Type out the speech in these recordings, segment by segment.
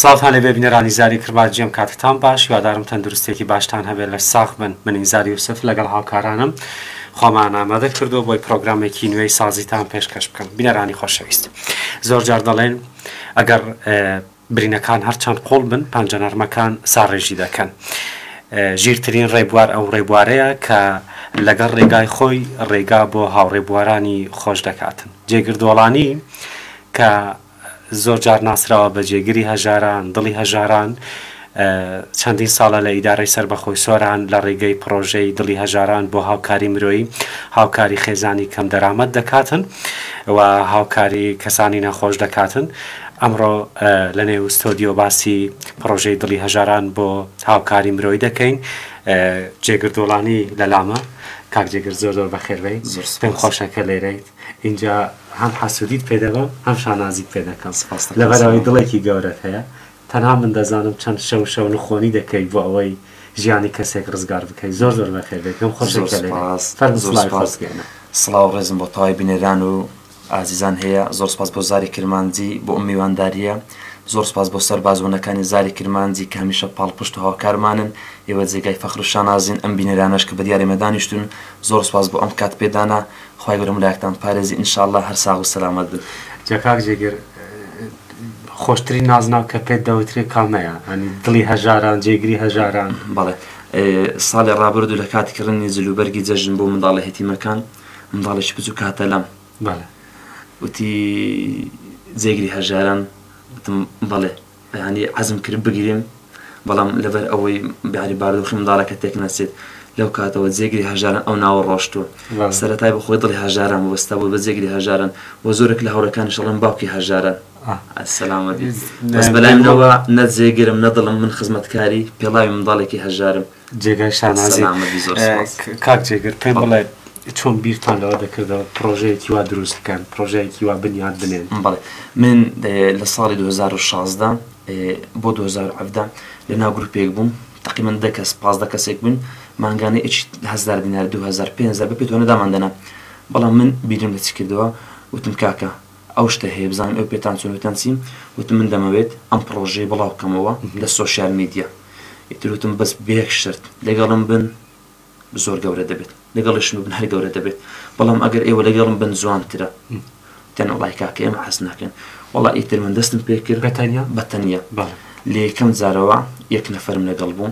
ساڵتان لەبێ بینەرانی زاری کڕبات جێم کاتتان باش یادارم تەندروستێکی باشتان هەبێت لە ساخ بن منین زاری یوسف لەگەڵ هاوکارانم خۆمان ئامادە کردو بۆی پرۆگرامێکی نوێی سازیتان پێشکەش بکەم بینەرانی خۆشەویست زۆر جار دەڵێن ئەگەر برینەکان هەرچەند قوڵ بن، پەنجە نەرمەکان ساڕێژی دەکەن. ژیرترین ڕێبوار ئەو ڕێبوارەیە کە لەگەڵ ڕێگای خۆی ڕێگا بۆ هاوڕێبوارانی خۆش دەکات. جێگر دۆڵانی کە زۆر جار ناسراوە بە جێگری هەژاران، دڵی هەژاران، چەندین ساڵە لە ئیدارەی سەربەخۆی سۆران لە ڕێگەی پڕۆژەی دڵی هەژاران بۆ هاوکاری مرۆیی هاوکاری خێزانی کەمدەرامەت دەکاتن و هاوکاری کەسانی نەخۆش دەکاتن ئەمڕۆ لە نێو ستۆدیۆ باسی پڕۆژەی دڵی هەژاران بۆ هاوکاری مرۆیی دەکەین جێگر دۆڵانی لە لامە کاک جێگر زۆر زۆر بەخێربێی پێم خۆشە کە لێرەیت اینجا هەم حەسودیت پێ دەبم هەم شانازیت پێ دەکەم لەبەرەوەی دڵێکی گەورەت هەیە تەنها من دەزانم چەند شەو شەو نخۆنی دەکەی بۆ ئەوەی ژیانی کەسێک ڕزگار بکەیت زۆر زۆر بەخێربێت پێم خۆشە کە لێرەیت فەرموو سڵاوی خۆت بگەیەنە سڵاو و ڕێزم بۆ تەوای بینەران و ئازیزان هەیە زۆر سوپاس بۆ زاری کرمانجی بۆ ئەم میوانداریە زۆر سوپاس بۆ سەرباز ونەکانی زاری کرمانجی کە هەمیشە پاڵپشت و هاوکارمانن ئێوە جێگای فەخر و شانازین ئەم بینەرانەش کە بەدیار ئێمە دانیشتون زۆر سوپاس بۆ ئەم کات پێدانە خوای گەورە ملایەکتان پارێزی ان شاءاللە هەر ساغ و سەلامەت بن. جا کاک جێگر خۆشترین نازناو کە پێت دەوترێ کامەیە ئەنی دڵی هەژاران جێگری هەژاران. بەڵێ ساڵی ڕابردوو لە کاتی کڕینی جل و بەرگی جەژن بۆ منداڵە هێتیمەکان، منداڵێکی بچووک هاتە لام وتی جێگری هەژاران وتم بەڵێ ینی عزم کرد بگریم بەڵام لەبەر ئەوەی بیاری باردۆخی منداڵەکە تێک نەچێت لەو کاتەوە جێگری هەژاران ئەو ناوە ڕۆشتووە سەرەتای بە خۆی دڵی هەژاران وەستا بۆ بە جێگری هەژاران بۆ زۆرێک لە هەوڵەکانی شەڵم باوکی هەژاران سەلامەتی بەس بەلای منەوە نە جێگرم نەدڵم من خزمەتکاری پێڵاوی منداڵێکی هەژارم جێگای شانازی کاک جێگر پێم بڵێ چۆن بیرتان لەوە دەکردەوە پرۆژەیەکی وا دروست بکەن پرۆژەیەکی وا بنیاد بنێن بڵێ من لە ساڵی 2016 بۆ 2017 لە ناو گروپێک بووم تقیمن دە کەس پازدە کەسێک بوون مانگانە هزار دینار 2005 بە پێتۆنە داماندەنا بەڵام من بیرم لە چ کردەوە وتم کاکە ئەو شتە هەیە بزانن ئەو پێتان چۆن وتیان چیم وتم من دەمەوێت ئەم پڕۆژەی بڵاو بکەمەوە لە سۆشیال میدیا ئیتر وتم بەس بێک شەرت لەگەڵم بن زۆر گەورە دەبێت لەگەڵیشم بن هەر گەورە دەبێت بەڵام ئەگەر ئێوە لەگەڵم بن جوانترە تەنە وڵای کاکە ئێمە حەز ناکەن وڵا ئیتر من دەستم پێکرد بەتەنیا بەتەنیا لە یەکەم جارەوە یەک نەفرم لەگەڵ بوو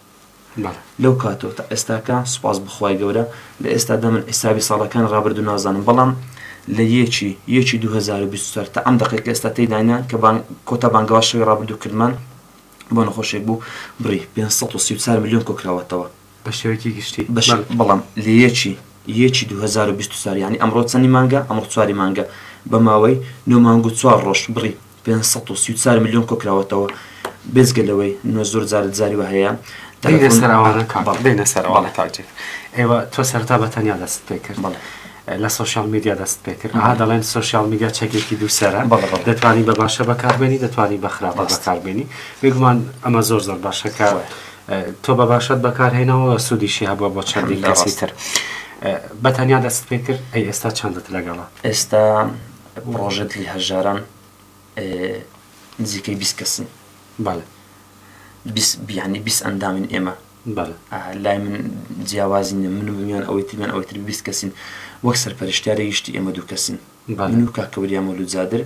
بەڵێ لەو کاتەوە تا ئێستاکە سوپاس بۆ خوای گەورە لە ئێستادا من حیسابی ساڵەکانی ڕابردوو نازانم بەڵام لە یەکی یەکی دوو هەزار و بیست و چوار تا ئەم دەقەی کە ئێستا تێیداین کە بانگ کۆتا بانگەواز شەوی ڕابردوو کردمان بۆ نەخۆشێک بوو بڕی پێنج سەد و سی و چوار ملیۆن کۆکراوەتەوە بە شێوەیەکی گشتی بە شێ- بەڵێ. بەڵام لە یەکی یەکی دوو هەزار و بیست و چوار یانی ئەمڕۆ چەندی مانگە ئەمڕۆ چواری مانگە بە ماوەی نۆ مانگ و چوار ڕۆژ بڕی پێنج سەد و سی و چوار ملیۆن کۆکراوەتەوە بێزگە لەوەی نۆ زۆر جارت زاری وە هەیە دەینە سەراوانە کاڵ دەینە سەراوانە کاڵجێک ئێوە تۆ سەرتا بە تەنیا دەست پێ کرد بەڵێ لە سوۆشال میدیا دەست پێ کرد ها دەڵێن سوۆشال میدیا چەکێکی دووسرە دەتوانی بە باشە بەکاربێنی دەتوانی بە خراپ بەکاربێنی بێگومان ئەمە زۆر زۆر باشەکە تۆ بە باشەت بەکارهێنەوە سوودیشی هەبووە بۆ چەندی لەسی تر بە تەنیا دەست پێ کرد ئەی ئێستا چەندت لەگەڵە ئێستا ئەم ڕۆژە دڵی هەژاران نزیکەی بیست کەسن. بەڵێ. بیست بیانی بیست ئەندامین ئێمە. بەڵێ. لای من جیاوازی نیە. من و میان ئەوەی تریان ئەوەی تر بیست کەسین. وەک سەرپەرشتیاری گشتی ئێمە دوو کەسین. بەڵێ. من و کاکە وریا مەولوود زادر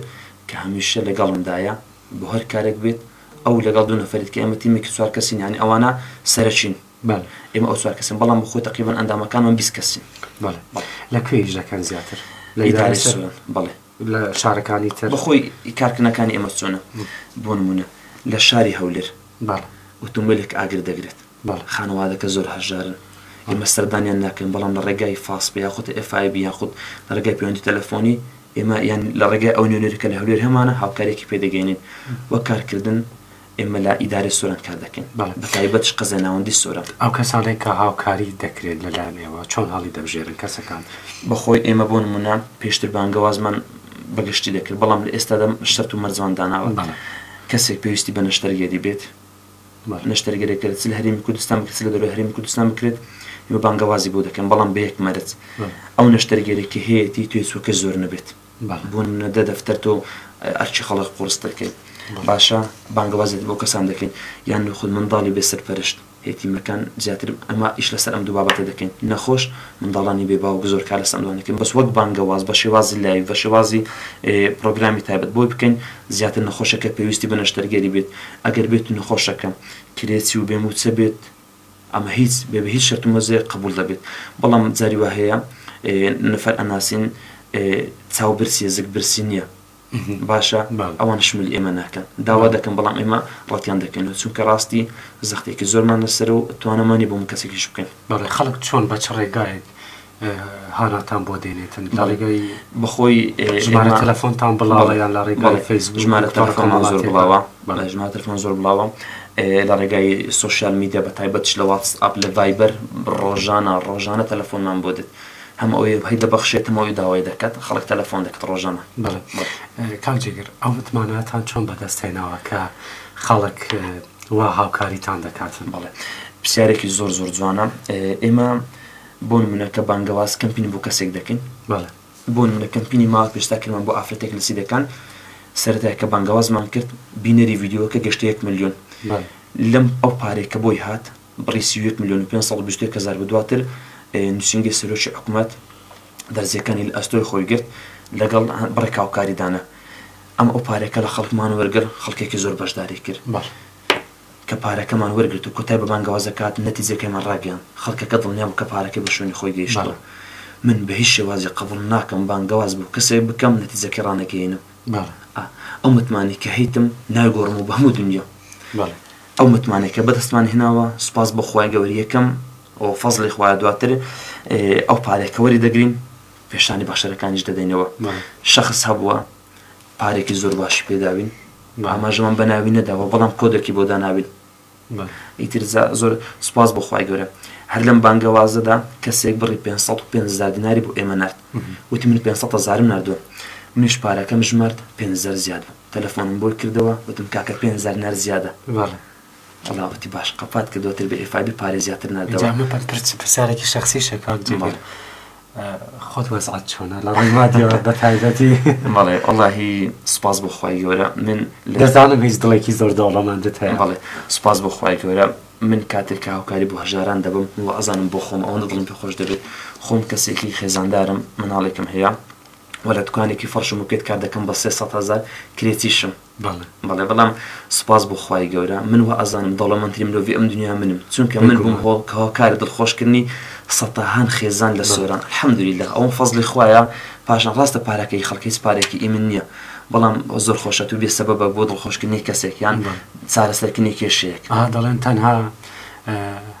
کە هەمیشە لەگەڵمدایە بۆ هەر کارێک بێت. ئەو لەگەڵ دوو نەفەری دیکە ئێمە تیمێکی چوار کەسین یانی ئەوانە سەرەکین. بەڵێ. ئێمە ئەو چوار کەسین، بەڵام بەخۆی تەقریبەن ئەندامەکانمان بیست کەسین. بەڵێ. لە کوێ ئیش دەکەن زیاتر؟ لە ئیدارەی سوران. بەڵێ. لە شارەکانی تر؟ بەخۆی کارکردنەکانی ئێمە چۆنە؟ بۆ نموونە لە شاری هەولێر. بەڵێ. ئۆتۆمبێلێک ئاگر دەگرێت. بەڵێ. خانەوادەکە زۆر هەژارن. ئێمە سەردانیان ناکەین، بەڵام لە ڕێگای فاسپە یاخود ئێف ئای بی یاخود لە ڕێگای پەیوەندی تەلەفۆنی، ئێمە یان لە ڕێگای ئەو نوێنەرە کە لە هەولێر هەمانە هاوکارییەکی پێ دەگەیەنین. وەک کارکردن ئێمە لە ئیدارەی سۆران کار دەکەین بەتایبەتش قەزای ناوەندی سۆران. ئەو کەسانەی کە هاوکاری دەکرێت لەلایەن ئێوە چۆن هەڵی دەبژێرن کەسەکان؟ بەخۆی ئێمە بۆ نموونە پێشتر بانگەوازمان بە گشتی دەکرد بەڵام لە ئێستادا شەرت و مەرجمان داناوە کەسێک پێویستی بە نەشتەرگەری بێت نەشتەرگەرێکە چ لە هەرێمی کوردستان بکرێت چ لە دەرەوەی هەرێمی کوردستان بکرێت ئێمە بانگەوازی بۆ دەکەین بەڵام بە یەک مەرج ئەو نەشتەرگەرێکی هەیەتی توێژوەکەی زۆر نەبێت. بۆ نمونە دە دەفتەر تۆ ئەرکی خەڵک قوڕستر کەیت باشە بانگەوازت بۆ کەسان دەکەین یان نەخود منداڵی بێ سەرپەرشت هێتیمەکان زیاتر ئەمە ئیش لەسەر ئەم دوو بابەتە دەکەین نەخۆش منداڵانی بێ باوک زۆر کار لەسەر ئەمانە کەین بەس وەک بانگەواز بە شێوازی لایڤ بە شێوازی پڕۆگرامی تایبەت بۆی بکەین زیاتر نەخۆشەکە پێویستی بە نەشتەرگەری بێت ئەگەر بێت نەخۆشەکە کرێچی و بێ موچە بێت ئەمە هیچ بێ بەهیچ شەرت و مەرجێک قبوڵ دەبێت بەڵام جاری وا هەیە نەفەر ئەناسین چاو برسیە زگ برسی نییە باشە ئەوان شمل ئێمە ناکەن داوا دەکەم بەڵام ئێمە ڕەتیان دەکەنەوە چونکە ڕاستی زەختێکی زۆرمان لەسەر و توانەمانی بۆ من کەسێکیش بکەن بەڵێ خەڵک چۆن بە چ ڕێگایەک هاناتان بۆ دێنێتن لە ڕێگای بەخۆی ژمارە تەلەفۆنتان بڵاوە یان لە ڕێگای فەیس ژمارە تەلەفۆنمان زۆر بڵاوە بەڵێ ژمارە تەلەفۆن زۆر بڵاوە لە ڕێگای سوسیال میدیا بە تایبەت لە واتس ئاپ لە ڤایبەر ڕۆژانە ڕۆژانە تەلەفۆنمان بۆ دێت هەم ئەوەی هەی دەبەخشێتمەوەی داوای دەکات خەڵک تەلەفۆن دەکات ڕۆژانە کاک جێگر ئەو متماناتان چۆن بەدەست هێناوە کە خەڵک وا هاوکاریتان دەکاتن بڵێ پرسیارێکی زۆر زۆر جوانە ئێمە بۆ نمونە کە بانگەواز کەمپین بۆ کەسێک دەکەین بەڵێ بۆ نمونە کەمپینی ماوە پێشتا کردمان بۆ ئافرەتێک لە سیدەکان سەرەتای کە بانگەوازمان کرد بینەری ڤیدیۆکە گەشتە یەک ملیۆن لەم ئەو پارەی کە بۆی هات بڕی سی و یەک ملیۆن و پێنج سەد و بیست و یەک هەزار بە دواتر نووسینگەی سەرۆکی حکوومەت دەرزیەکانی لە ئەستۆی خۆی گرت لەگەڵ بڕێک هاوکاریدانە ئەم ئەو پارێکە لە خەڵکمان وەرگر خەڵکێکی زۆر بەشداری کرد باش کە پارەکەمان وەرگرت و کۆتای بە بانگەواز دەکات، نەتیجەکەیمان ڕاگەیاند. خەڵکەکە دڵنیا بوو کە پارەکەی بۆ شوێنی خۆی گەیشتووە. من بە هیچ شێوازێک قبوڵ ناکەم بانگەواز بۆ کەسێک بکەم نەتیجەکەی ڕانەگەیەنم. ئەو متمانەی کە هەیتم نایگۆڕم و بە هەموو دونیا ئەو متمانەی کە بەدەستمان هێناوە، سوپاس بۆ خوای گەورە یەکەم و فەزڵی خوایە دواتر ئەو پارەیە کە وەریدەگرین پێشانی بەخشەرەکانیش دەدەینەوە. شەخس هەبووە. پارێکی زۆر باشی پێ داوین بە ئاماژەمان بە ناوی نەداوە بەڵام کۆدەکی بۆ داناوین ئیتر زۆر سپاس بۆ خخوای گەورە هەر لەم بانگەوازەدا کەسێک بڕی 500 دیناری بۆ ئێمە نرد وتی من 500 زارم نردووە منیش پارەکەم ژمارد 500 زیاد بوو تەلەفۆنم بۆی کردەوە وتم کاکە 500 نەر زیادە جەڵابەتی باش قەپات کە دواتر بە ئێفای بێ پارەی زیاتر ناردەوە ئینجا مەپەن پرچ پرسیارێکی شەخسیشە کاک جێگر بەڵێ. ئە، خۆت وەزعت چۆنە لە ڕووی مادیەوە بە تایبەتی بەڵێ وەڵاهی سوپاس بۆ خوای گەورە من لە دەزانم هیچ دڵێکی زۆر دەوڵەمەندت هەیە بەڵێ سوپاس بۆ خوای گەورە من کاتێک کە هاوکاری بۆ هەژاران دەبم وە ئەزانم بۆ خۆم ئەوەندە دڵم پێ خۆش دەبێت خۆم کەسێکی خێزاندارم مناڵێکم هەیە وە لە دوکانێکی فەڕشم و پێت کار دەکەم بە سێ سەد هەزار کرێچیشم بەڵێ بەڵێ بەڵام سوپاس بۆ خوای گەورە من وا ئەزانم دەوڵەمەندترین مرۆڤی ئەم دنیا منم چونکە من بووم هۆڵ کە هۆکارە دڵخۆشکردنی سەتاهان خێزان لە سۆران الحمدللە ئەوەم فەزڵی خوایە پاشان ڕاستە پارەکەی خەڵک هیچ پارەیەکی ئی من نییە بەڵام زۆر خۆشە تو بێ سەبەبە بۆ دڵخۆشکردنی کەسێک یان چارەسەرکردنی کێشەیەک. ئا دەڵێن تەنها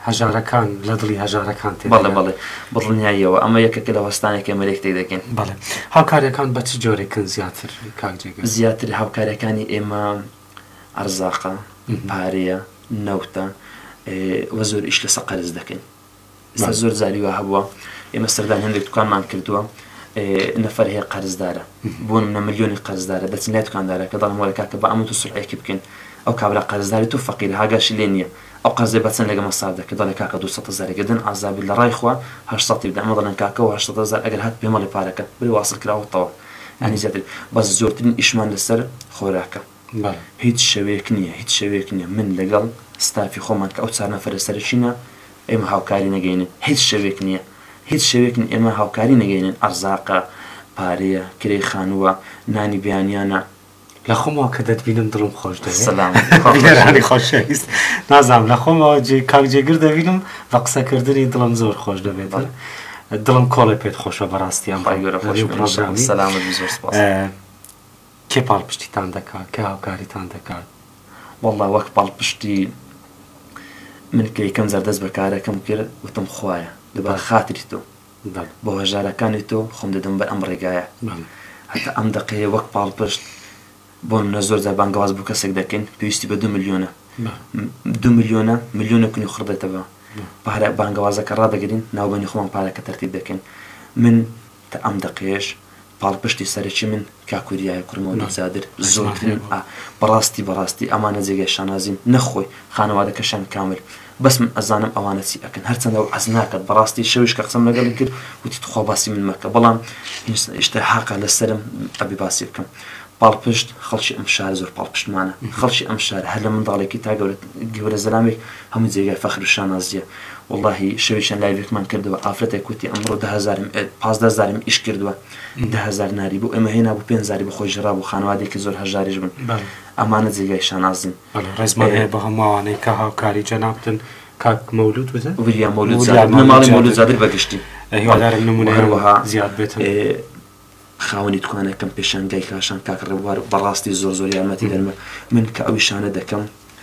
هەژارەکان لە دڵی هەژارەکان تێ بەڵێ بەڵێ بڕنیاییەوە ئەمە یەکێکە لە وەستانێک کە مەرێک تێ دەگەین بەڵێ هاوکارەکان بە چ جۆرێکن زیاتر کاکجێگە زیاتر هاوکارەکانی ئێمە ئەرزاقە پارەیە نەوتە وە زۆر ئیش لەسە قەرز دەکەین ئێستا زۆر جاری وا هەبووە ئێمە سەردان هەندێک دوکانمان کردووە نەفەر هەیە قەرزدارە بۆ منە ملیۆنی قەرزدارە دەچین لای دوکاندارە کە دەڵم وەرەکە کە بە ئەمە تو سرعەیەکی بکەین ئەو کابرا قەرزداری تو فەقیر هاگاش لێ نییە ئەو قەرزێ بەچەند لەگە مەساف دەکە دەڵێ کاکە دو زارێکدن عزاب لە ڕای خوا هەشتی بدە ئەمە دەڵێن کاکە هەشتزار ئەگەر هات پێمەڵی پارەکە بری واصل کراوەتەوە ینی زیاتر بەس زۆرترین ئیشمان لەسەر خۆراکە بەڵێ هیچ شەوێک نیە هیچ شەوێک نیە من لەگەڵ ستافی خۆمان کە ئەو چار نەفەرە سەرەکینە ئێمە هاوکاری نەگەینێ هیچ شەوێک نیە هیچ شەوێک نیە ئێمە هاوکاری نەگەینێن ئەرزاقە پارەیە کرێی خانووە نانی بەیانیانە لە خۆمەوە کە دەتبینم دڵم خۆش دەوێ سلام گێرانی خۆشەویست نازام لە خۆمەوە جێ کاک جێگر دەبینم بە قسەکردنی دڵم زۆر خۆش دەبێت دڵم کۆڵێ پێت خۆشە بەڕاستیان ڕای گەورە خۆش سلام زۆر سپاس کێ پاڵپشتیتان دەکات کێ هاوکاریتان دەکات واللە وەک پاڵپشتی من کە یەکەم جار دەست بەکارەکەم کرد وتم خوایە لەبەر خاتری تۆ بۆ هەژارەکانی تۆ خۆم دەدەم بەر ئەم ڕێگایە هەتا ئەم دەقەیە وەک پاڵپشت بۆ منە زۆر جار بانگەواز بۆ کەسێک دەکەین پێویستی بە دو ملیۆنە دو ملیۆنە ملیۆنە کونی خڕدێتەوە پارە بانگەوازەکە ڕادەگرین ناوبەنی خۆمان پارەکە تەرتیب دەکەین من تا ئەم دەقەیەش پاڵپشتی سەرەکی من کاک وریایە کوڕی مەولوود زادر زۆرترین ئا بەڕاستی بەڕاستی ئەمانە جێگای شانازین نەک خۆی خانەوادەکەشیان کامل بەس من ئەزانم ئەوانە چی ئەکەن هەرچەندە وەعز ناکات بەڕاستی شەویش کە قسەم لەگەڵی کرد وتی تخوا باسی من مەکە بەڵام هیشتا هاقە لەسەرم ئەبێ باسی بکەم پاڵپشت، خەڵکی ئەم شارە زۆر پاڵپشتمانە. خەڵکی ئەم شارە هەر لە منداڵێکی تا گەورە گەورە زەلامێک هەموو جێگای فەخر و شانازییە. وەڵاهی شەوێکیان لایڤێکمان کردەوە ئافرەتێک وتی ئەمڕۆ دە هەزارم پازدە هەزارم ئیش کردووە دە هەزار ناری بۆ ئێمە هێنابوو پێنج هەزاری بۆ خۆی ژڕابوو خانەوادەیەکی زۆر هەژاریش بوون. ئەمانە جێگای شانازین. بەڵێ ڕێزمان هەیە بۆ هەموو ئەوانەی کە هاوکاری جەنابتن کاک مەولوود وتە؟ وریا مەولوود زادە بنەماڵەی مەولوود زادە بە گشتی. هیوادارم نموونەیان زیاد بێتن. خاوەنی توانای کەم پێشانگای کاشان کاک ڕێبوار بەڕاستی زۆر زۆر یارمەتی دەرمە من کە ئەوی شانە دەکەم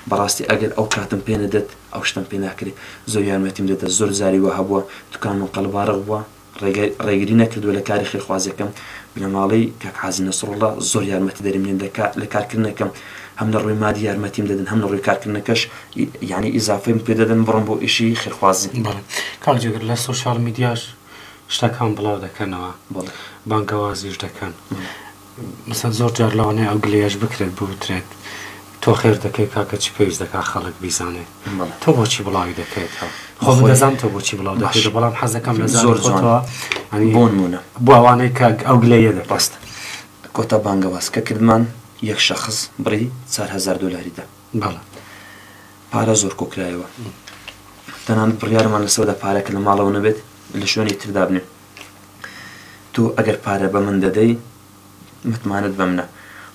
بەڕاستی ئەگەر ئەو کاتم پێ نەدەت ئەو شتەم پێ ناکرێ زۆر یارمەتیم دەدا زۆر جاری وا هەبووە توکانمم قەلباڕغ بووە ڕێگای ڕێگری نەکردووە لە کاری خێرخوازیەکەم بنەماڵەی کاک حاجی نەسڕوڵا زۆر یارمەتی دەری منن لە کار لە کارکردنەکەم هەم لە ڕووی مادی یارمەتیم دەدن هەم لە ڕووی کارکردنەکەش ی یانی ئیزافەیم پێ دەدەن بڕۆم بۆ ئیشی خێرخوازی. بەڵێ کاک جێگر لە سۆشیاڵ میدیاش شتەکان بڵاو دەکەنەوە بانگەوازیش دەکەن مەسەن زۆر جار لەوانەیە ئەو گلەیەش بکرێت بوترێت تۆ خێر دەکەی کاکە چی پێویست دەکات خەڵک بیزانێت تۆ بۆچی بڵاوی دەکەێتەوە خۆ دەزان تۆ بۆچی بڵاو دەکەیت بەڵام حەزەکەم لە زۆر زۆرەوە بۆنمونە بۆ ئەوانەی کە ئەو گلەیە دەپاست کۆتا بانگەواز کە کردمان یەک شخص بڕی 4هزار دلاریدا بەڵە پارە زۆر کۆکرایەوە تەنانەت بڕیارمان لەسەردا پارە کە لە ماڵەوە نەبێت لە شوێنی تردا بنێ تۆ ئەگەر پارە بە من دەدەی متمانەت بەمنە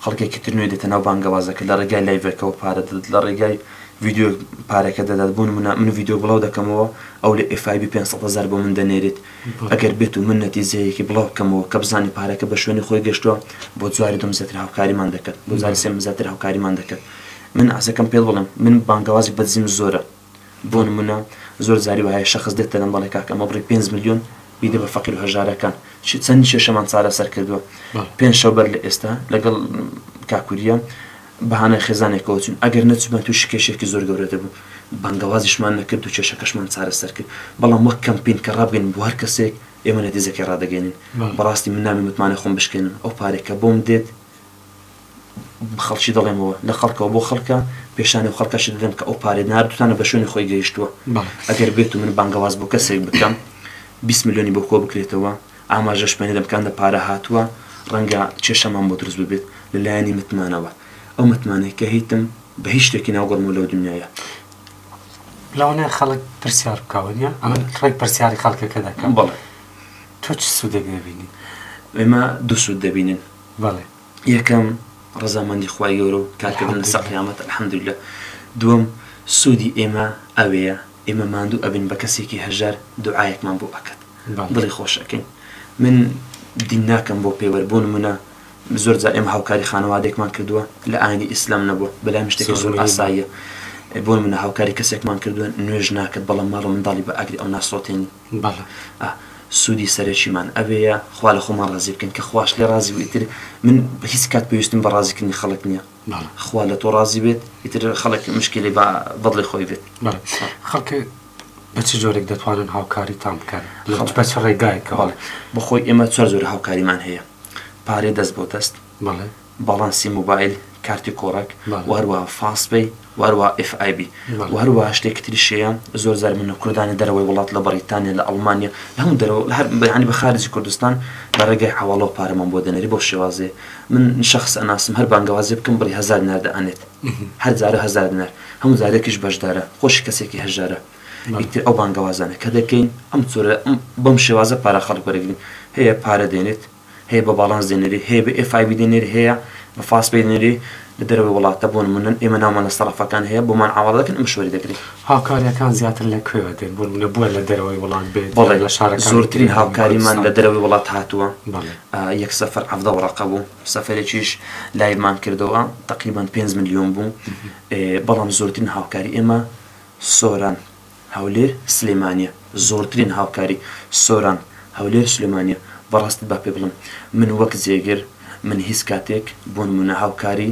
خەڵکێکی تر نوێ دێتە ناو بانگەوازەکە لە ڕێگای لایڤەکەەوە پارە دەدەت لە ڕێگای ڤیددیو پارەکە دەدات بوون منە من ڤیددیو بڵاو دەکەمەوە ئەو لە ئفایبی 500هزار بۆ من دەنێرێت ئەگەر بێت و من نەتیزەیەکی بڵاو بکەمەوە کە بزانانی پارەکە بە شوێنی خۆی گەشتووە بۆ جواری دم زیاتر هاوکاریمان دەکەن بۆ زاری سێم زیاتر هاوکاریمان دەکەن من عەزەکەم پێت بڵێم من بانگەوازی بەدزیم زۆرە بۆ نمونە زۆر جاری وەهایە شەخس دێتە لام دەڵێ کاکە ئەمە بڕی پێنج ملیۆن بیدە بە فەقیر و هەژارەکان چی چەند کێشەمان چارەسەر کردووە پێنج شەو بەر لە ئێستا لەگەڵ کاکوریە بەهانای خێزانێکەوە چون ئەگەر نەچوبان تووشی کێشێکی زۆر گەورە دەبوو بانگەوازیشمان نەکرد و کێشەکەشمان چارەسەر کرد بەڵام وەک کەمپین کە ڕابگەین بۆ هەر کەسێک ئێمە نەتیجەکەی ڕادەگەینین بەڕاستی من نامەوێ متمانەی خۆم بشکێنم ئەو پارەی کە بۆم دێت خەڵکی دەڵێمەوە لە خەڵکەوە بۆ خەڵکە پێشانی ئەو خەڵکەشت بدەم کە ئەو پارەی ناردوتانە بە شوێنی خۆی گەیشتووە ئەگەر بێت و من بانگەواز بۆ کەسێک بکەم 20 ملیۆنی بۆ کۆ بکرێتەوە ئاماژەش پێ نەدەم کە ئەندە پارە هاتووە ڕەنگە کێشەمان بۆ دروست ببێت لە لایەنی متمانەوە ئەو متمانەی کە هیتم بە هیچ شتێکی ناوگۆڕمەوە لەو دنیایە لەوانەیە خەڵک پرسیار بکەوە نیە ئەمن ڕێک پرسیاری خەڵکەکە دەکەم بەڵێ تۆ چ سوودێک دەبینی؟ ئێمە دوو سوود دەبینین بەڵێ یەکەم ڕەزامەندی خوای گەورە و کارکردن لە سەر قیامەت الحمدللە دووەم سوودی ئێمە ئەوەیە ئێمە ماندوو ئەبین بە کەسێکی هەژار دوعایەکمان بۆ ئەکات دڵی خۆش ئەکەین من دین ناکەم بۆ پێوەر بۆ نمونە زۆر جا ئێمە هاوکاری خانەوادێکمان کردووە لە ئاینی ئیسلام نەبووە بەلام شتێکی زۆر ئاساییە بۆ منە هاوکاری کەسێکمان کردووە نوێژ ناکرد بەڵام ماڵ منداڵی بە ئاگری ئەو ناسۆتێنی بەڵێ سودی سەرەکیمان ئەوێیە خوا لە خۆمان ڕازی بکەین کە خواش لێ ڕازی بوو ئیتر من هیچ کات پێویستم بە ڕازی کردنی خەڵک نیە خوا لە تۆ ڕازی بێت ئیتر خەڵک مشکلی بە بەدڵی خۆی بێت خەڵک بە چ جۆرێک دەتوانن هاوکاریتان بکەن خەڵک بە چ ڕێگایەکەوە بەڵێ بەخۆی ئێمە چوار جۆرە هاوکاریمان هەیە پارەی دەست بۆ دەست بەڵێ باڵانسی مۆبایل، کارتی کۆڕەک و هەروەها فاست پەی و هەروەها ئێف ئای بی و هەروەها شتێکی تریش هەیە زۆر جار من کوردانی دەرەوەی وڵات لە بەڕیتانیا لە ئەڵمانیا لە هەموو دەرەوە لە هەر یانی بە خارجی کوردستان لە ڕێگای حەواڵەوە پارەمان بۆ دەنێری بەو شێوازەیە من شەخس ئەناسم هەر بانگەوازی بکەم بڕی هەزار دینار دەئەنێت هەر جارە هەزار دینار هەموو جارێکیش بەشدارە خۆشی کەسێکی هەژارە ئیتر ئەو بانگەوازانە کە دەکەین ئەم جۆرە ئەم بەم شێوازە پارە خەڵک وەرەگرین هەیە پارە دێنێت هەیە بە باڵانس دێنەری هەیە بە ئێف ئای بی دێنەری هەیە بە فاست پەی دێنەری لە دەرەوەی وڵاتە بۆ نمونە ئێمە ناومان لە سەرەفەکان هەیە بۆمان عەواڵە دەکەن ئێمەش وەری دەگرین. هاوکاریەکان زیاتر لە کوێوە دێن بۆ نمونە بۆیە لە دەرەوەی وڵات بێت بەڵێ لە شارەکانی تری زۆرترین هەرێمی هاوکاریمان لە کوردستان دەرەوەی وڵات هاتووە بەڵێ ئا یەک سەفەر حەڤدە وەڕەقە بوو سەفەرێکیش لایڤمان کردەوە تەقریبەن پێنج ملیۆن بوو ئێ بەڵام زۆرترین هاوکاری ئێمە سۆران هەولێر سلێمانیە زۆرترین هاوکاری سۆران هەولێر سلێمانیە بەڕاستی با پێ بڵێم من وەک جێگر من هیچ کاتێک بۆ نمونە هاوکاری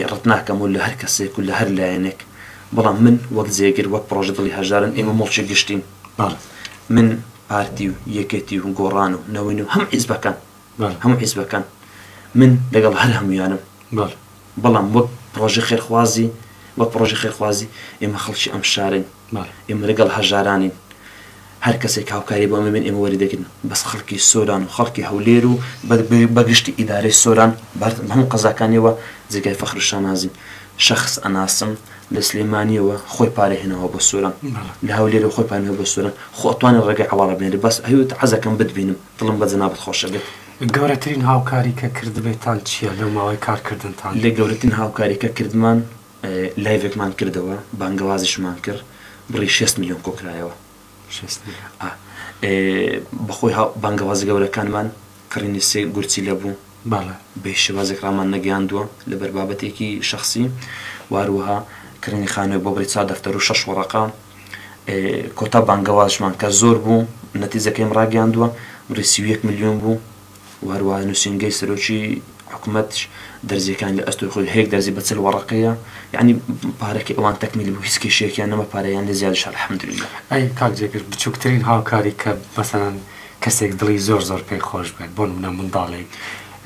ڕەت ناکەم و لە هەر کەسێک و لە هەر لایەنێک بەڵام من وەک جێگر وەک پڕۆژە دڵی هەژارن ئێمە موڵکی گشتین بەڵێ من پارتی و یەکێتی و گۆڕان و نەوەی نوێ و هەموو حیزبەکان بەڵێ هەموو حیزبەکان من لەگەڵ هەر هەموویانم بەڵێ. بەڵام وەک پڕۆژە خێرخوازی وەک پڕۆژە خێرخوازی ئێمە خەڵکی ئەم شارەین ئێمە لەگەڵ هەژارانین هەر کەسێک هاوکاری بۆ ئەمە بێن ئێمە وەری دەگرن بەس خەڵکی سۆران و خەڵکی هەولێر و بەگشتی ئیدارەی سۆران بەردم هەموو قەزاکانیەوە جێگای فەخر و شانازین شخص ئەناسم لە سلێمانیەوە خۆی پارە هێناوە بۆ سۆران لە هەولێرەوە خۆی پانەوە بۆ سۆران خۆ ئەتوانێت ڕێگەی عەواڵە بێنێت بەس هەیوت عەزەکەم بتبینم دڵم بە جەنابت خۆشە بێت. گەورەترین هاوکاری کە کردبێتان چیە لەو ماوەی کار کردنتان؟ لە گەورەترین هاوکاری کە کردمان لایڤێکمان کردەوە بانگەوازیشمان کرد بڕی شێست ملیۆن کۆکرایەوە شێست ئا بە خۆی هاو بانگەوازە گەورەکانمان کڕینی سێ گورچیلە بوو باڵە بە هیچ شێوازێک ڕامان نەگەیاندووە لەبەر بابەتێکی شەخسی واروها کڕینی خانوێک بۆ بڕی چوار دەفتەر و شەش وەڕەقە کۆتا بانگەوازشمان کە زۆر بوو نەتیجەکەیم ڕاگەاندووە بڕی سی و یەک ملیۆن بوو و هەروە نووسنگەی سەرۆکی حکوومەتش دەرزیەکان لە ئەستۆی خۆی هەیەک دەرزی بە چل وەڕقەیە یعنی پارەکە ئەوان تەکمیلی بوو هیچ کێشێکیان نەمە پارەیان لە زیاد شار حمدللا ئەی کاک جێگر بچووکترین هاوکاری کە مەسەن کەسێک دڵی زۆر زۆر پێی خۆش بێت بۆ منە منداڵێک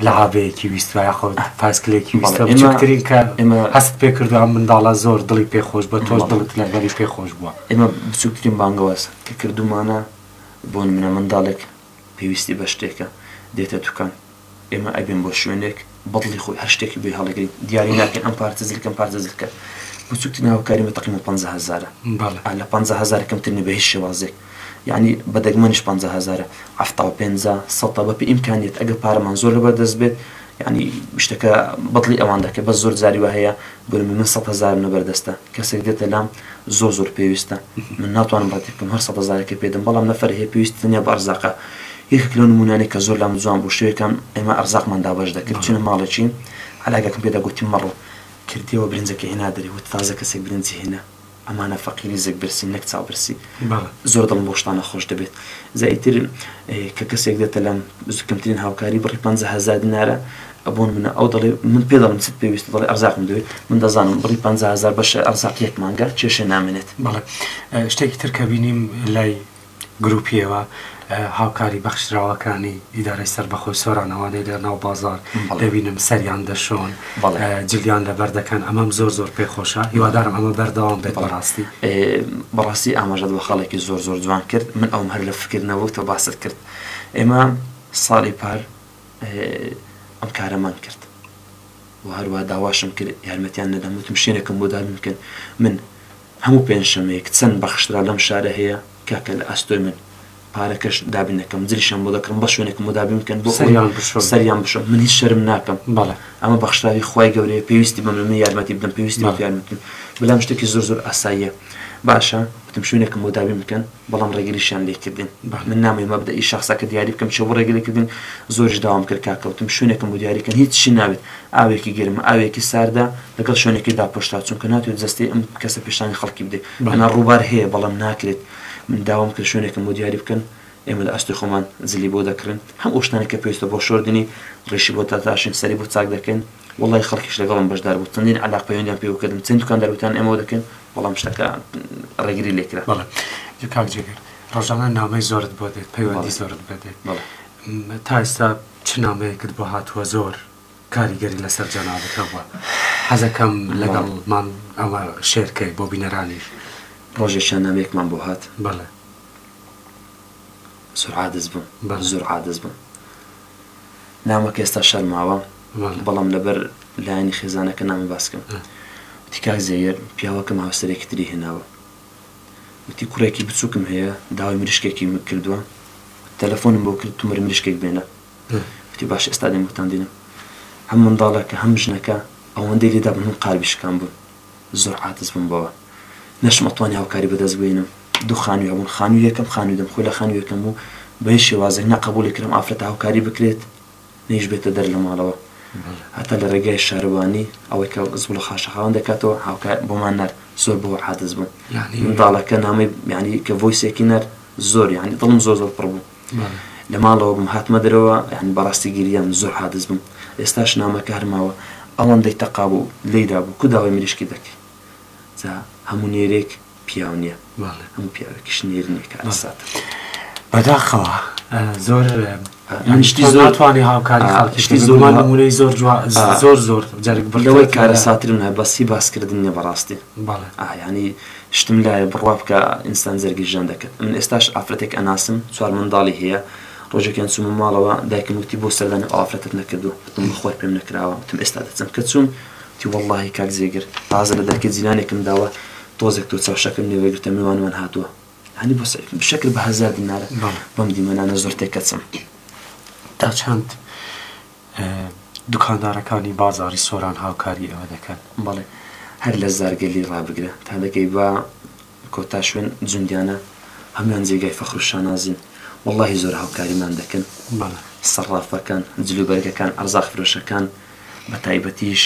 لەعابەیەکی ویستوە یاخود پاسکلێکی ویستوە بچووکترین کە ئێمە هەست پێ کردو ئەم منداڵە زۆر دڵی پێ خۆش بە تۆش دڵت لەگەڵی پێ خۆش بووە ئێمە بچووکترین بانگەواز کە کردومانە بۆ منە منداڵێک پێویستی بە شتێکە دێتە دوکان ئێمە ئەبێن بۆ شوێنێک بەدڵی خۆی هەر شتێکی بێ هەڵگرین دیاری ناکەین ئەم پارتە زلکەم پارتە زلکە بچووکتی ناوکاری مە تەقیمە 500هزارە لە 500هزار کەمترنی بە هیچ شێوازێک یەعنی بە دەگمەنیش پەنجا هەزارە حەفتا و پەنجا سەتە بە پێی ئیمکانیەت ئەگەر پارەمان زۆر لەبەر دەست بێت یەعنی شتەکە بەدڵی ئەوان دەکەین بەس زۆر جاری وا هەیە بڵێم من سەد هەزارم لەبەر دەستە کەسێک دێتە لام زۆر زۆر پێویستە من ناتوانم ڕەتی بکەم هەر سەد هەزارەکەی پێ دەم بەڵام نەفەرێ هەیە پێویستی تەنیا بە ئەرزاقە یەکێک لەو نموونانەی کە زۆر لام جوان بوو شەوێکان ئێمە ئەرزاقمان دابەش دەکرد چووینە ماڵێکی عەلاگەکم پێدا گوتم مەڕۆ کردیەوە برنجەکەی هێنادەرێ وتی تازە کەسێک برنجی هێنا ئەمانە فەقیری زێک برسین نەک چاو برسی زۆر دڵم بۆ شتانە خۆش دەبێت زەئیتر کە کەسێک دێتە لەم کەمترین هاوکاری بڕی پ هزار دینارە ئەبوون منە ئەو دەڵێ من پێ دەڵم چت پێویست دەڵێ ئەرزاقم دوێت من دەزانم بڕی پ هزار بەشە ئەرزاقیەک مانگە کێشە نامێنێت بەڵێ شتێکی ترکە بینیم لای گروپیەوە هاوکاری بەخشراوەکانی ئیدارەی سەربەخۆی سۆرانەوە دەی لە ناو بازار دەبینم سەریان دەشۆن جلیان لەبەر دەکەن ئەمەم زۆر زۆر پێ خۆشە هیوادارم ئەمە بەردەوام بێت بەڕاستی بەڕاستی ئاماژەت بە خەڵێکی زۆر زۆر جوان کرد من ئەوم هەر لە فکردنەوە تۆ باست کرد ئێمە ساڵی پار ئەم کارەمان کرد و هەروە داواشم کرد یارمەتیان نەدەموتم شوێنێکم بۆ دابنکەن من هەموو پێنجشەمەیەک چەند بەخشتراو لەم شارە هەیە کاکە لە ئەستۆی من پارەکەش دابین دەکەم جریشیان بۆ دەکڕم بەس شوێنێکم بۆ دابین بکەن بۆ سەریان بشۆن سەریان بشۆن من هیچ شەرم ناکەم بەڵێ ئەمە بەخشراوی خوای گەورەیە پێویستی بەمنە من یارمەتی بدەم پێویستی بە یارمەتیم بەلام شتێکی زۆر زۆر ئاساییە باشە وتم شوێنێکم بۆ دابین بکەن. بەڵام ڕێگریشیان لێکردین بە من نامەوێ مەبدەئی شەخسەکە دیاری بکەم چۆ بۆ ڕێگری کردن زۆریش داوام کرد کا کەوتم شوێنێکم بۆ دیاری کەن هیچ چی ناوێت ئاوێکی گەرم ئاوێکی ساردە لەگەڵ شوێنێکی داپۆشراو چونکە ناتوێت جەستەی ئەم کەسە پێشانی خەڵکی بدەی ئەنا ڕووبار هەیە بەڵام ناکرێت من داوام کرد شوێنێکم بۆ دیاری بکەن ئێمە لە ئەستۆی خۆمان جلی بۆ دەکڕین هەم ئەو شتانەی کە پێویستە بۆ شۆردنی ڕیشی بۆ داتاشین سەری بۆ چاک دەکەین وەڵای خەڵکیش لەگەڵم بەشدار بوو چەندین عەلاق پەیوەندیان پێوە کردم چەند دوکاندار وتیان ئێمەوە دەکەین بەڵام شتەکە ڕێگری لێ کرا. بەڵێ جا کاک جێگر ڕۆژانە نامەی زۆرت بۆ دێت پەیوەندی بەڵێ. زۆرت بۆ دێت بەڵێ م، تا ئێستا چ نامەیەکت بۆ هاتووە زۆر کاریگەری لەسەر جەنابت هەبووە حەز ئەکەم لەگەڵمان ئەوە شێر کەی بۆ بینەرانیش ڕۆژێکیان نامەیەکمان بۆ هات بەڵێ. زۆر عادز بووم بەڵێ. زۆر عادز بووم. نامەکە ئێستا شەرماوە بەڵام لەبەر لایەنی خێزانەکە نامی باسکەم وتی کاک زەویێر پیاوەکەم هاوسەرێکی تری هێناوە وتی کوڕێکی بچووکم هەیە داوای مریشکێکی کردووە تەلەفۆنم بۆ کرد تومەر مریشکێک بێنە وتی باش ئێستا دێمەتان دێنم هەم منداڵەکە هەم ژنەکە ئەوەندەی لێدا بن من قالبیشکان بوون زۆر عاجز بووم بەوە نەشم ئەتوانی هاوکاری بەدەست بهێنم دوو خانووی هەبوون خانووی یەکەم خانووی دەم خۆی لە خانووی یەکەم بوو بە هیچ شێوازێک نە قبوڵی کردم ئافرەتە هاوکاری بکرێت نەیش بێتە دەر لە ماڵەوە هەتا لە ڕێگای شارەوانی ئەوەی کە زوڵە خاشەخاوان دەکاتەوە هاوکار بۆمان نەر زۆر بەوە عادز بوو منداڵەکە نامەی میانی کە ڤۆیسێکی نەر زۆر یانی دڵم زۆر زۆر پڕ بوو لە ماڵەوە بم هاتمە دەرەوە یعنی بەڕاستی گریام زۆر عادز بم ئێستاش نامەکە هەرماوە ئەوەندەی تەقا بوو لێدا بوو کو داوای مریشکی دەکەی جا هەموو نێرێک پیاو نییە هەموو پیاوێکیش نێر نییە کە ئەسات بەداخەوە زۆر من شتی زۆر توانی هاوکاری خاڵکی شتی زۆر نمونەی زۆر زۆر زۆر جارێک بەرەوەی کارە ساترم هە بەسی باسکردن نیە بەڕاستی بەڵێ ئایانی شتم لایە بڕوا بکە ئینسان جەرگی ژان دەکەت من ئێستاش ئافرەتێک ئەناسم چوار منداڵی هەیە ڕۆژێکیان چوومە ماڵەوە دایکم وتی بۆ سەردانی ئەو ئافرەتت نەکردووە وتم بەخوای پێم نەکراوە وتم ئێستا دەچم کە چووم وتی وەڵڵاهی کاک جێگر تازە لە دەرکەی جیلانێکم داوە تۆزێک تۆ چەوشەکەم لێ وەرگرتە میوانمان هاتووە هەنی بۆ سەر شەکر بە هەزار دینارە بەم دیمەنانە زۆر تێکەچم تا چەند دوکاندارەکانی بازاڕی سۆران هاوکاری ئێوە دەکەن. بەڵێ هەر لە زارگەلی ڕابگرە تا دەگەی بە کۆتا شوێن جوندیانە هەموان جێگای فەخر و شانازین وەڵاهی زۆر هاوکاریمان دەکەن سەڕافەکان جلو بەرگەکان ئەرزاق فرۆشەکان بە تایبەتیش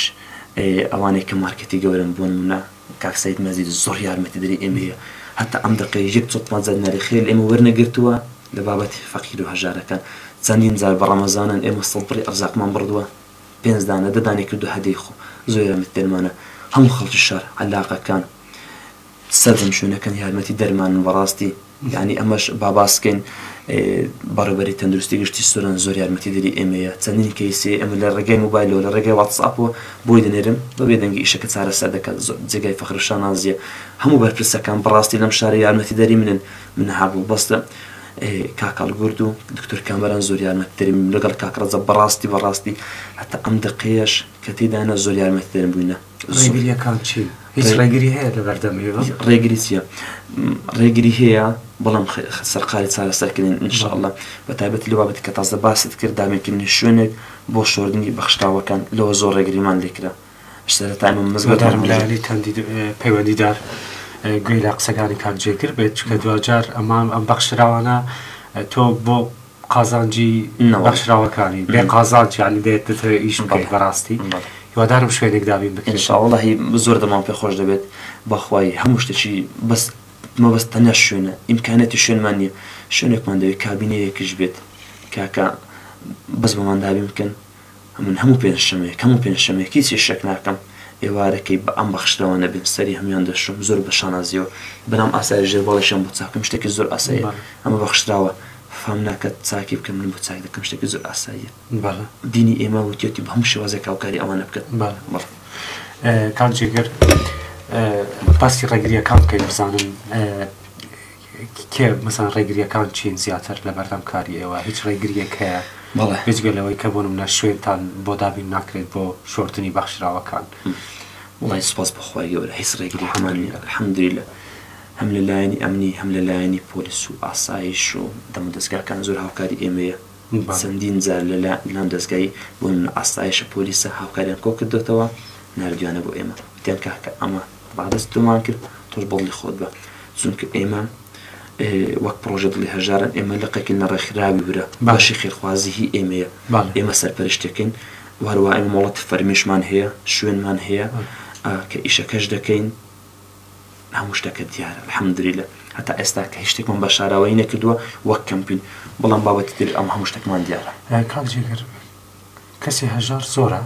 ئەوانەی کە مارکێتی گەورەن بۆ نمونە کاک سەید مەزید زۆر یارمەتی دەری ئێمە یە هەتا ئەم دەقەیش یەک چڵپات زانیاری خێر لە ئێمە وەرنەگرتووە لە بابەتی فەقیر و هەژارەکان چەندین جار بە ڕەمەزانان ئێمە سەڵپڕی ئەرزاقمان بڕدووە پێنج دانە دە دانەی کردو هەدەی خۆ زۆر یارمەتی دەرمانە هەموو خەڵکی شار عەلاقەکان سەرجەم شوێنەکان یارمەتی دەرمانن بەڕاستی یانی ئەمەش با باس بکەین بەڕێوبەری تەندروستی گشتی سوران زۆر یارمەتی دەری ئێمەیە چەندین کەیسی ئەمە لە ڕێگەی موبایلەوە لە ڕێگەی واتسئاپەوە بۆی دەنێرم بە بێدەنگی ئیشەکە چارەسەر دەکات زۆر جێگای فەخرە شانازیە هەموو بەرپرسەکان بەڕاستی لەم شارە یارمەتی دەری منن من هابوو بەستە کاکەڵ گرد و دکتۆر کامەران زۆر یارمەتی دەریم لەگەڵ کاکڕەزە بەڕاستی بەڕاستی هەتا ئەم دقەیەش کە تێدانە زۆر یارمەتی دەرم بووینە ڕێگریەکان چین هیچ ڕێگری هەیە لە بەردەم ئێوە ڕێگری چیە ڕێگری هەیە بەڵام سەرقالی چارەسەرکردن انشاءله بە تایبەت لە بابەتی کە تازە باست کرد دامێکردنی شوێنێک بۆ شۆردنی بەخشتاوەکان لەوە زۆر ڕێگریمان لێکرا سەرەتانم مزگەدارملالی تەندی پەیوەندیدار گوێ لە قسەکانی کاک جێگر بێت چکە دواجار ئەمان ئەم بەخشراوانە تۆ بۆ قازانجی بەخشراوەکانی بێ قازانج یانی دێت دەتەوێت ئیش بکەیت بەڕاستی هیوادارم شوێنێک دابین بکەین ان شاء اللە هی زۆر دەمام پێ خۆش دەبێت بەخوای هەموو شتێکی بەس مەبەست تەنیا شوێنە ئیمکانەتی شوێنمان نییە شوێنێکمان دەوێت کابینەیەکیش بێت کاکە بەس بۆمان دابین بکەن ئەمن هەموو پێنجشەمەیەک هەموو پێنجشەمەیەک هیچی شک ناکەم ئێوارەکەی بە ئەم بەخشدەوانە بێم سەری هەموان دەشۆم زۆر بە شانازیەوە بەنام ئاسای ژێر باڵیشم بۆ چاکم شتێکی زۆر ئاساییە ئەمە بەخشراوە فام ناکەت چاکی بکەم من بۆ چاک دەکەم شتێکی زۆر ئاساییە دینی ئێمە وتێتی بە هەموو شێوازێک هاوکاری ئەوانە بکەن کاک جێگر باسی ڕێگریەکان بکەین بزانم کێ مەسەن ڕێگریەکان چین زیاتر لە بەردەم کاری ئێوە هیچ ڕێگریەک هەیە بەڵێ بێجگە لەوەی کە بۆ نمونە شوێنتان بۆ دابین ناکرێت بۆ شۆردنی بەخشراوەکان؟ وەڵای سوپاس بۆ خوای گەورە هیچ ڕێگریەکمان نیە الحمدللە هەم لە لایەنی ئەمنی هەم لە لایەنی پۆلیس و ئاسایش و دەمودەزگاکان زۆر هاوکاری ئێمەیە چەندین جار لە لا لام دەزگای بۆ نمونە ئاسایشە پۆلیسە هاوکاریان کۆ کردۆتەوە ناردویانە بۆ ئێمە وتیان کاکە ئەمە با دەست تۆمان کرد تۆش بەدڵی خۆت بە چونکە ئێمە وەک پرۆژە دڵی هەژارن ئێمە لقێکی نەڕێکخراوی ورە باشی خێرخوازی هی ئێمەیە ئێمە سەرپەرشتەکەین وهەروە ئێمە مۆڵەتی فەرمیشمان هەیە شوێنمان هەیە کە ئیشەکەش دەکەین هەموو شتەکە دیارە الحمدللە هەتا ئێستا کە هیچ شتێکمان بە شاراوەی نەکردووە وەک کەمپین بەڵام بابەتی تر ئەم هەموو شتێکمان دیارە کاک جێگر کەسی هەژار زۆرە؟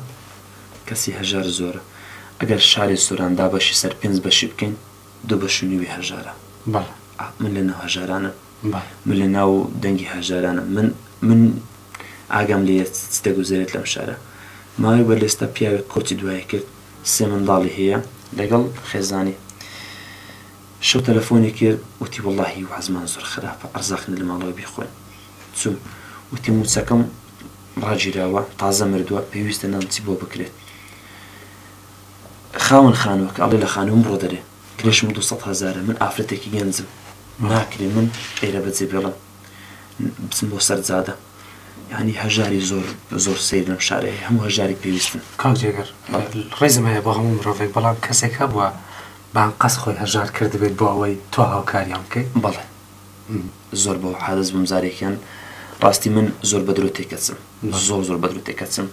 کەسی هەژار زۆرە. ئەگەر شاری سۆران دابەشی سەر پێنج بەشی بکەین، دوو بەش و نیوی هەژارە. بەڵێ. ئا، من لە ناو هەژارانم. بەڵێ. من لە ناو دەنگی هەژارانم. من، من ئاگام لێیە چ، چ دەگوزەرێت لەم شارە. ماوەی بەر لێستە پیاوێک کۆچی دوایی کرد، سێ منداڵی هەیە، لەگەڵ خێزانی. شەو تەلەفۆنی کرد، وتی وەڵاهی وەزعمان زۆر خراپە، ئەرزاق نیە لە ماڵەوە بیخۆین. چووم. وتی مووچەکەم. ڕاگیراوە تازە مردووە پێویستە نان چی بۆ بکرێت خاوەن خانوەکە ئەڵێ لە خانوم ڕۆ دەرێ کرێشم دو سەد هەزارە من ئافرەتێکی گەنجم ناکرێ من ئێرە بەجێ بێڵم بچم بۆ سەر جادە ینی هەژاری زۆر زۆر سیر لەم شارێ هەموو هەژاری پێویستن کاک جێگەر ڕێزم هەیە بۆ هەموو مرۆڤێک بەڵام کەسێک هەبووە بان قەس خۆی هەژار کردبێت بۆ ئەوەی تۆ هاوکاریان بکەیت بەڵێ زۆر بەوە حازز بووم زارێکیان ڕاستی من زۆر بە درۆ تێکەچم زۆر زۆر بە درۆ تێکەچم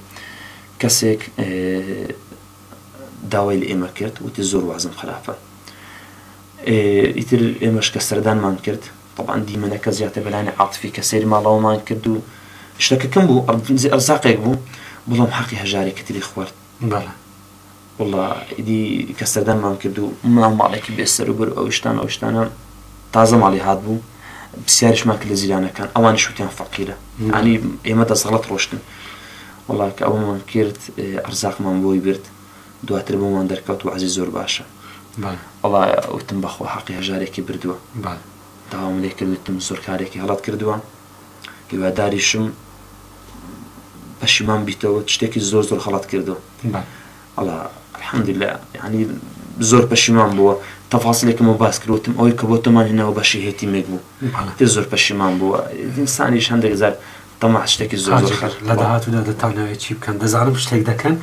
کەسێک داوای لە ئێمە کرد وتی زۆر وازم خراپە ئیتر ئێمەش کە سەردانمان کرد طبعاان دیمەنەکە زیاتر بەلانی عاتفی کە سیر ماڵەوەمان کرد و شتەکەکەم بوو ئەرزاقێک بوو بڵام حەقی هەژاری کەتری خوارد بەڵێ وەڵا ئیدی کە سەردانمان کرد و ماو ماڵێکی بێ سەر و بەر و ئەو شتانە ئەو شتانە تازە ماڵی هات بوو پرسیاریشمان کرد لە جیرانەکان ئەوانیش وتیان فەقیرە یانی ئێمە دەسەڵەت ڕۆشتن وەڵا کە ئەومان کرد ئەرزاقمان بۆی برد دواتر بۆمان دەرکەوت و عەزی زۆر باشە وەڵا وتم بەخوا حەقی هەژارێکی بردووە داوام لێ کرد وتم زۆر کارێکی هەڵەت کردووە هیواداریشم پەشیمان بیتەوە شتێکی زۆر زۆر خەڵت کردو ئەڵا الحمدللا ینی زۆر پەشیمان بووە تەفاسلێکم و باس کردوتم ئەوەی کە بۆ تۆمان هێناوە بەشی هێتی مێک بوو تێ زۆر پەشیمان بووە ئینسانیش هەندێک زار تەما شتێکی زۆر لە داهاتوودا دەتانەوەی چی بکەن دەزانم شتێک دەکەن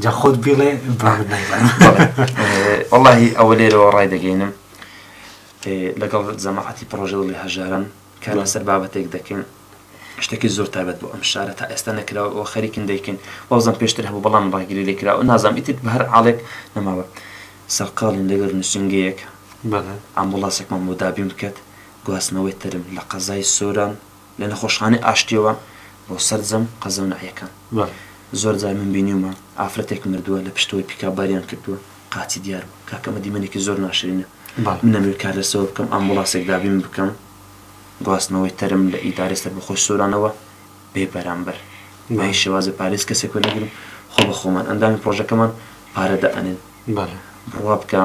جا خۆت بیڵێ وڵی ئەوە لێرەوە ڕای دەگەینم لەگەڵ زەماعەتی پرۆژەڵی هەژارن کار لەسەر بابەتێک دەکەین شتەکی زۆر تایبەت بۆ ئەم شارە تا ئێستا نەکراوە ئەوە خەریکن دەیکەین وازم پێشتر هەبوو بەڵام ڕاگری لێ کراوە نازام ئیتر بە هەر عاڵێک نەماوە سەرقاڵین لەگەر نووسینگەیەک ئامبوڵاسێکمان بۆ دابین بکات گواستنەوەی تەرم لە قەزای سۆران لە نەخۆشخانەی ئاشتیەوە بۆ سەرجەم قەزە و ناحیەکان زۆر جار من بینیومە ئافرەتێک مردووە لە پشتەوەی پیکاباریان کردووە قاچی دیار بوو کاکە ئەمە دیمەنێکی زۆر ناشرینە. بەڵام من نەمەوێت کار لەسەوە بکەم، ئامبوڵاسێک دابین بکەم، گواستنەوەی تەرم لە ئیدارەی سەربەخۆی سۆرانەوە بێ بەرامبەر. بەهیچ شێوازێک پارەی کەسێک وەرنەگرم، خۆ بە خۆمان ئەندامی پڕۆژەکەمان پارە دائەنێن. بڕوا بکە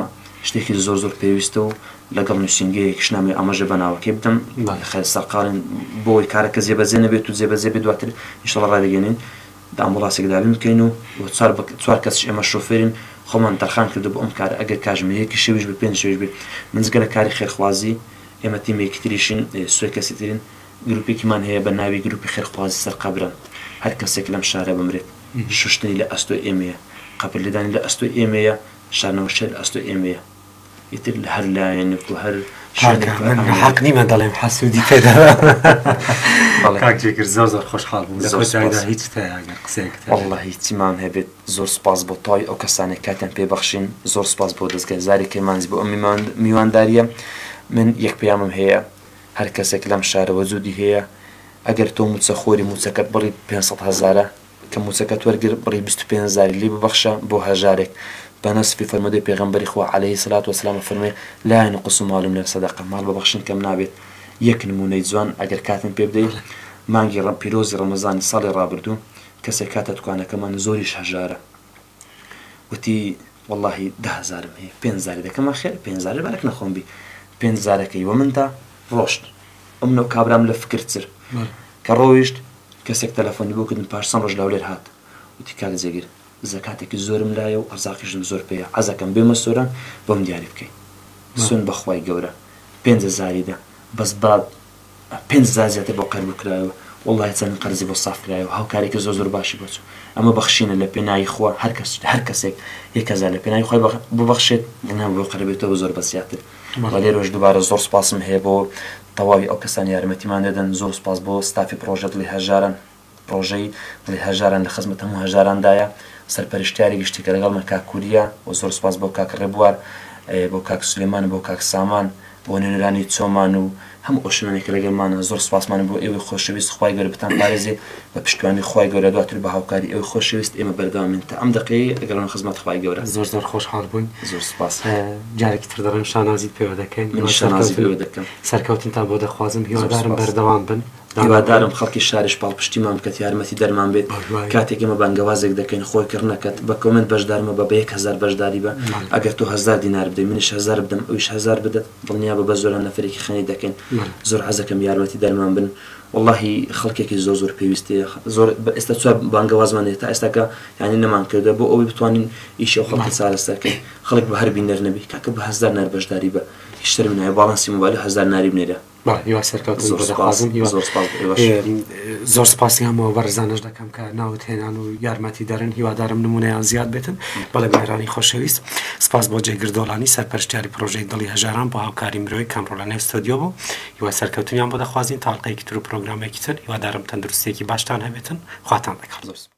شتێکی زۆر زۆر پێویستە و لەگەڵ نووسینگەیەکیش نامەوێت ئاماژە بە ناوەکەی بدەم، خێرە سەرقاڵین بۆ ئەوەی کارەکە جێبەجێ نەبێت و جێبەجێ بێت دواتر ئینشاڵڵا ڕایدەگەیەنین. دام و ڕاستێک دابین بکەین و بۆ چوار بە چوار کەسیش ئێمە شۆفێرین خۆمان تەرخان کردووە بۆ ئەم کارە ئەگەر کاژمێر یەکی شەویش بێ پێنج شەویش بێ من جگە لە کاری خێرخوازی ئێمە تیمێکی تریشین سێ کەسی ترین گروپێکیمان هەیە بە ناوی گروپی خێرخوازی سەر قەبرە هەر کەسێک لەم شارە بمرێت شوشتنی لە ئەستۆی ئێمەیە قەبر لێدانی لە ئەستۆی ئێمەیە شانەوشێن لە ئەستۆی ئێمەیە. ئیتر لە هەر لایەنێک و هەر شوێنێک کاکە من ئەمەیە. حەق نیمە دەڵێم حەسوودی پێ دەڵێم بەڵێ. کاک جێگر زۆر زۆر خۆشحاڵ بووم لە زۆر کۆتایدا سوپاس. هیچ هەیە ئەگەر قسەیەکت هەبێت. واللە هیچی مام هەبێت زۆر سوپاس بۆ تەواوی ئەو کەسانەی کاتیان پێ بەخشین زۆر سوپاس بۆ دەزگای زاری کرمانجی بۆ ئەم میمان میوانداریە من یەک پەیامم هەیە هەر کەسێک لەم شارە وەجودی هەیە ئەگەر تۆ موچەخۆری موچەکەت بڕی پێنج سەد هەزارە کە موچەکەت وەرگرت بڕی بیست و پێنج هەزاری لی ببەخشە بۆ هەژارێک، بە نەسفی فەرموودەی پێغەمبەری خوا علیە سلات وسلام ئەفەرموێ، لا ینقص مال من صدقە، ماڵ بە بەخشین کەم نابێت، یەک نموونەی جوان ئەگەر کاتم پێ بدەی، مانگی پیرۆزی ڕەمەزانی ساڵی ڕابردوو، کەسێک هاتە دوکانەکەمان زۆریش هەژارە، وتی وەڵاهی دە هەزارم هەیە پێنج هەزاری دەکەم ئەخێر پێنج هەزارە بارەک نەخۆم بی پێنج هەزارەکەی وە من دا ڕۆشت ئەم نەو کابرام لە فکرتر کە ڕۆیشت کەسێک تەلەفۆنی بۆ کردن پاش چەند ڕۆژ لەولێر هات وتی کاک جێگر زەکاتێکی زۆرم لایە و ئەرزاقیشم زۆر پێیە عەزەکەم بێمە سۆران بۆم دیاری بکەی سوێن بەخوای گەورە پێنج هەزاری دە بەس با پێنج هەزار زیاتر بۆ قەرز بکرایەوە وەڵاهی چەند قەرزی بۆ ساف کرایەوە هاوکارێکی زۆر زۆر باشی بۆ چوو ئەمە بەخشینە لە پێناوی خوا هەر کەس هەر کەسێک یەک هەزار لە پێناوی خوای ببەخشێت ئەنا بۆ قەرەبێتەوە زۆر بە زیاتر وە لێرەوەش دووبارە زۆر سوپاسم هەیە بۆ تەواوی ئەو کەسانەی یارمەتیمان دەدەن زۆر سوپاس بۆ ستافی پڕۆژە دڵی هەژاران. ڕۆژەی دڵی هەژاران لە خزمەت هەموو هەژاراندایە سەرپەرشتیاری گشتی کە لەگەڵمە کاک کوریە و زۆر سوپاس بۆ کاک ڕێبوار بۆ کاک سلێمان بۆ کاک سامان بۆ نوێنەرانی چۆمان و هەموو ئەو شوێنانێک کە لەگەڵمانە زۆر سوپاسمان بۆ ئێوەی خۆشەویست خوای گەورە بتان پارێزێ بە پشتیوانی خوای گەورە دواتر بە هاوکاری ئێوەی خۆشەویست ئێمە بەردەوامین تا ئەم دەقەیەی ئەگەڕۆمە خزمەت خوای گەورە زۆر زۆر خۆشحاڵ بووین زۆر سوپاس جارێکی تر دەڵێم شانازیت پێوە دەکەین من شانازی پێوە دەکەم سەرکەوتنتان بۆ دەخوازم هیوادارم بەردەوام بن هیوادارم خەڵکی شاریش پاڵپشتیمان بکەت یارمەتی دەرمان بێت کاتێک ئمە بانگەوازێک دەکەین خۆی کڕنەکەت بە کۆمنت بەشدارمە بە بەیەک هزار بەشداری بە ئەگەر تۆ هزار دینار بدەی منیش هزار بدەم ئەویش هزار بدەت دڵنیا بە بە زۆران نەفرێکی خەنی دەکەین زۆر عزەکەم یارمەتی دەرمان بن واللهی خەڵکێکی زۆر زۆر پێویستەیە زۆر ئێستا چوار بانگەوازمانێت تا ئێستاکە یعنی نەمان کردە بۆ ئەوەی بتوانین ئیشی ئەو خەڵکە چارەسەرکەین خەڵک بە هەر بینەر نەبی کاکە بە هزار نار بەشداری بە هیچ شەرم نایە باڵانسی موبایل هزار ناری بنێرە بەڵێ هیوای سەرکەوتن زۆر دەخوازم هیوا زۆر سپاس بۆ ئێوەش ئێ، زۆر سپاسیان بۆ بەڕێزانەش دەکەم کە ناوت هێنان و یارمەتی دەرن هیوادارم نمونەیان زیاد بێتن بەڵێ برێرانی خۆشەویست سپاس بۆ جێگر دۆڵانی سەرپەرشتیاری پرۆژەی دڵی هەژاران بۆ هاوکاری مرۆی کەم ڕۆ لە نێو ستۆدیۆ بوو هیوای سەرکەوتنیان بۆ دەخوازین تاڵقەیەکی تر و پرۆگرامێکی تر هیوادارم تەندروستیەکی باشتان هەبێتن خواتان لەگەڵ زۆر سپاس.